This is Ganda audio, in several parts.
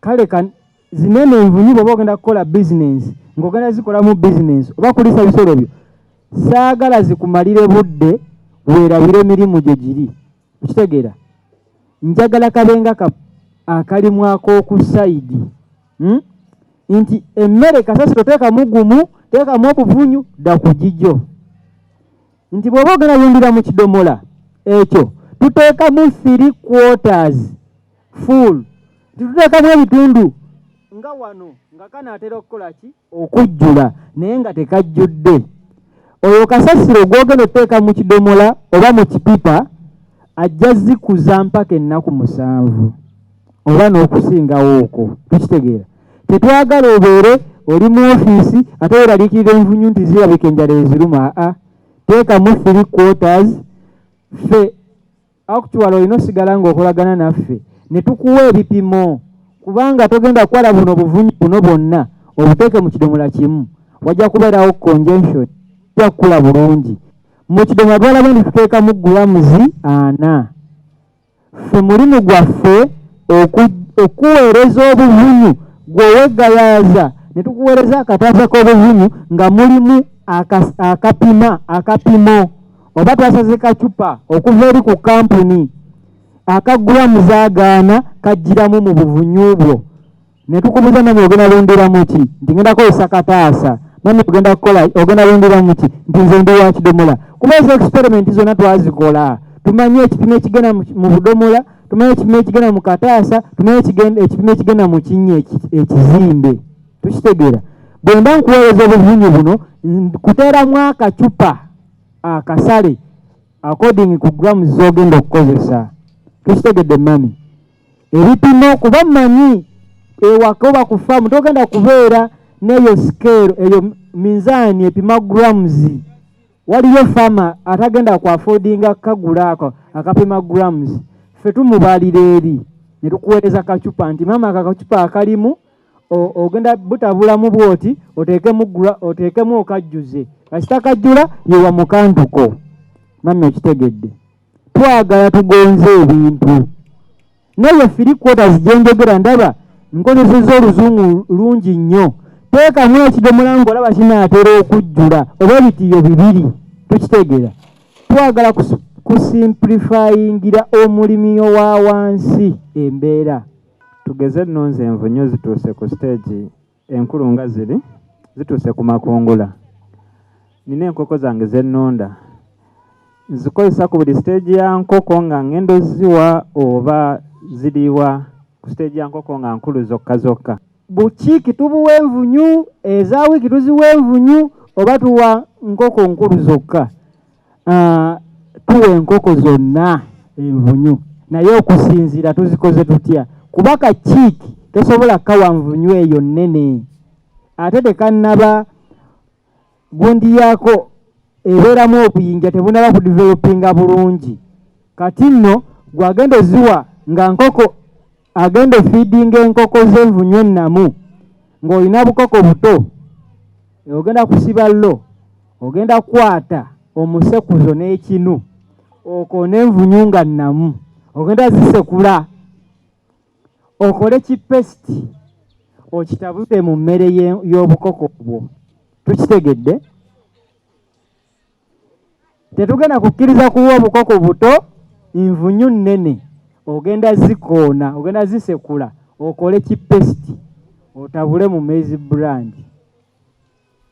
kale kan zinene envunyu bwoba ogenda kukola bizinensi ng'ogenda zikolamu bizinensi oba kulisa bisolo byo saagala zikumalire budde weerabire emirimu gye giri okitegeera njagala kabenga ka akalimu ak'oku sayidi hmm? nti emmere kasasiro teekamu gumu teekamu obuvunyu dda ku gigyo nti bw'oba ogenda yundira mu kidomola ekyo tuteekamu three quarters full tituteekamu ebitundu nga wano nga kanaatera okukola ki okujjula naye nga tekajjudde oyo kasasiro gwogenda oteeka mu kidomola oba mu kipipa ajja zikuza mpaka ennaku musanvu oba n'okusingawo okwo tukitegeera tetwagala obeere oli mu ofiisi ate weraliikirira envunyu nti zirabika enjala eziruma aa teekamu three quarters fe Actually olina osigala ng'okolagana naffe ne tukuwa ebipimo kubanga togenda kukwala buno buvunyi buno bwonna obuteeke mu kidomola kimu wajja kubeerawo conjunction ja kukula bulungi mu kidomola twalaba nti tuteekamu gulamuzi ana ffe mulimu gwaffe okuweereza obuvunyu gwewegayaaza ne tukuweereza akataasa k'obuvunyu nga mulimu akapima akapimo oba twasaze kacupa okuva eri ku kampuni akaggula muzaagaana kajjiramu mu buvunyu bwo ne tukubuza mami ogenda lundiramu ki nti ngenda kukozesa kataasa mami ogenda kukola ogenda lundiramu ki nti nze ndi wa kidomola kuba ezo experiment zonna twazikola tumanyi ekipimo ekigenda mu budomola tumanyi ekipimo ekigenda mu kataasa tumanyi ekipimo ekigenda mu kinnya ekizimbe tukitegeera bwe mba nkuweereza obuvunyu buno kuteeramu akacupa akasale according ku grams zogenda okukozesa tukitegedde mami ebipimo kuba manyi ewaka oba ku faamu togenda kubeera neyo scale eyo minzaani epima grams waliyo fama atagenda ku affordinga kagula ako akapima grams fe tumubalira eri netukuweereza kacupa nti mama akakacupa akalimu ogenda butabulamu bwoti oteekemu oteekemu okajjuze kasita kajjula yewa mukantuko mami okitegedde twagala tugonze ebintu naye firi quarters gyenjogera ndaba nkozeseza oluzungu lungi nnyo teekamu ekidomola ngaolaba kinaatera okujjula oba ebitiyo bibiri tukitegeera twagala kusimplifayingira omulimi owa wansi embeera Tugeze nno nze envunyu zituuse ku siteegi enkulu nga ziri zituuse ku makungula. Nina enkoko zange ze nnunda nzikozesa ku buli siteegi ya nkoko nga ng'enda oziwa oba ziriwa ku siteegi ya nkoko nga nkulu zokka zokka. Bukiiki tubuwa envunyu, eza wiiki tuziwa envunyu oba tuwa nkoko nkulu zokka? Ah, tuwa enkoko zonna envunyu naye okusinziira tuzikoze tutya kuba ka kiiki tosobola kawa nvunyu eyo nnene ate tekannaba gundi yaako ebeeramu obuyinja tebunaba ku developinga bulungi kati nno gwagenda oziwa nga nkoko agenda ofiidinga enkoko z'envunyu ennamu ng'olina bukoko buto ogenda kusiba lo ogenda kukwata omusekuzo n'ekinu okwo n'envunyu nga nnamu ogenda zisekula okole kipesiti okitabute mu mmere y'obukoko bwo tukitegedde tetugenda kukkiriza kuwa obukoko buto nvunyu nnene ogenda zikoona ogenda zisekula okole kipesiti otabule mu maize brand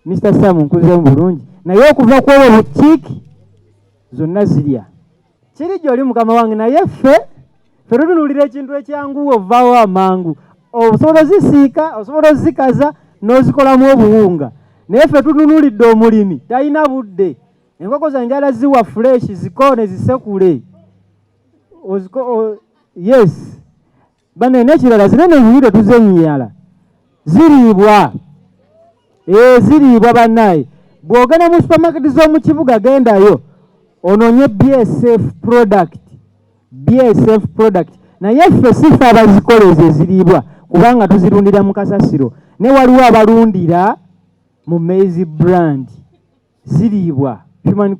mr sam nkuzemu bulungi naye okuva kwobo bukiiki zonna zirya kiri gyoli mukama wange naye ffe ffe tutunulira ekintu ekyangu ovaawo amangu osobola ozisiika osobola ozikaza n'ozikolamu obuwunga naye ffe tutunulidde omulimi talina budde enkoko zange ala ziwa fuleshi zikoone zisekule yes Bane nekirala zino eno ennyiriro tuzenyiyala ziriibwa ee ziriibwa banaye bwogenda mu supermarket z'omu kibuga gendayo ononye bsf product bsf product naye ffe sife abazikola ezo eziriibwa kubanga tuzirundira mu kasasiro ne waliwo abalundira mu maize brand ziriibwa human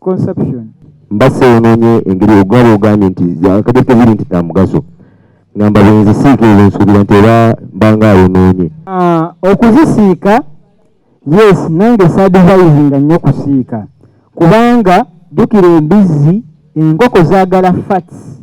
consumption. Mbasa yonoonye engeri ogwaba ogambye nti akagereka biri nti za mugaso ngamba bwenzisiika ezo nsuubira nti era mbanga ayonoonye. Ah, okuzisiika yes nange saadivayizinga nnyo kusiika kubanga jjukira embizzi enkoko zaagala fats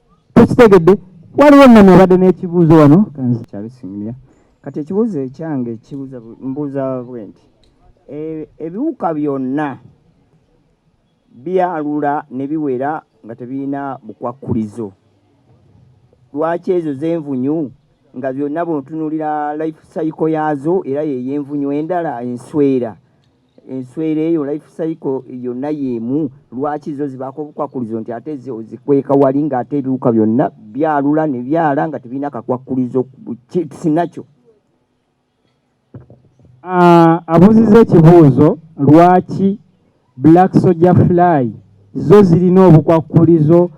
tukitegedde waliwo nami abadde n'ekibuuzo wano kanzi kyabisimya kati ekibuuzo ekyange kibuuza mbuuza bwe nti e, ebiwuka byonna byalula ne biwera nga tebirina bukwakkulizo lwaki ezo z'envunyu nga byonna bwotunulira life cycle yaazo era yeyo envunyu endala enswera enswera eyo life cycle yonna yemu lwaki zo zibaako obukwakkulizo nti ate zo zikweka wali ng'ate ebiwuka byonna byalula ne byala nga tebirina kakwakkulizo sinakyo ah, abuziza ekibuuzo lwaki black soja fly zo zirina obukwakkulizo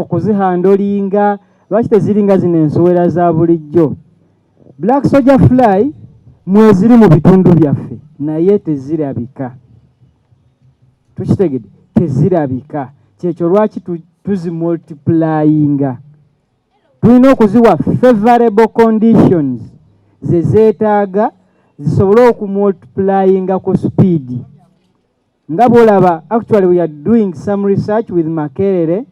okuzihandolinga lwaki teziringa zino ensowera za bulijjo Black Soldier Fly mweziri mu bitundu byaffe naye tezirabika, tukitegede, tezirabika. Kyekyo lwaki tuzimultiplyinga, tulina okuziwa favorable conditions zezeetaaga zisobole okumultiplyinga ku speed nga bwolaba actually we are doing some research with Makerere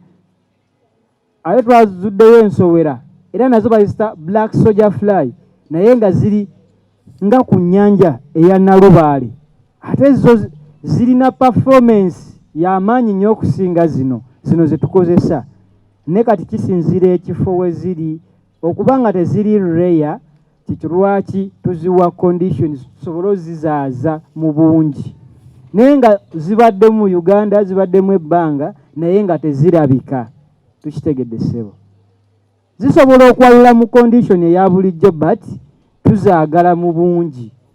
Ate twazuddeyo ensowera era nazo bazita black soldier fly naye nga ziri nga ku nnyanja eya Nalubaale ate zo zirina performance y'amaanyi nnyo okusinga zino zino ze tukozesa ne kati kisinziira ekifo we ziri. okuba nga teziri reya kikirwaki tuziwa conditions tusobole ozizaaza mu bungi naye nga zibadde mu uganda zibaddemu ebbanga naye nga tezirabika tukitegedde ssebo zisobola okwalula mu condition eya bulijjo but tuzaagala mu bungi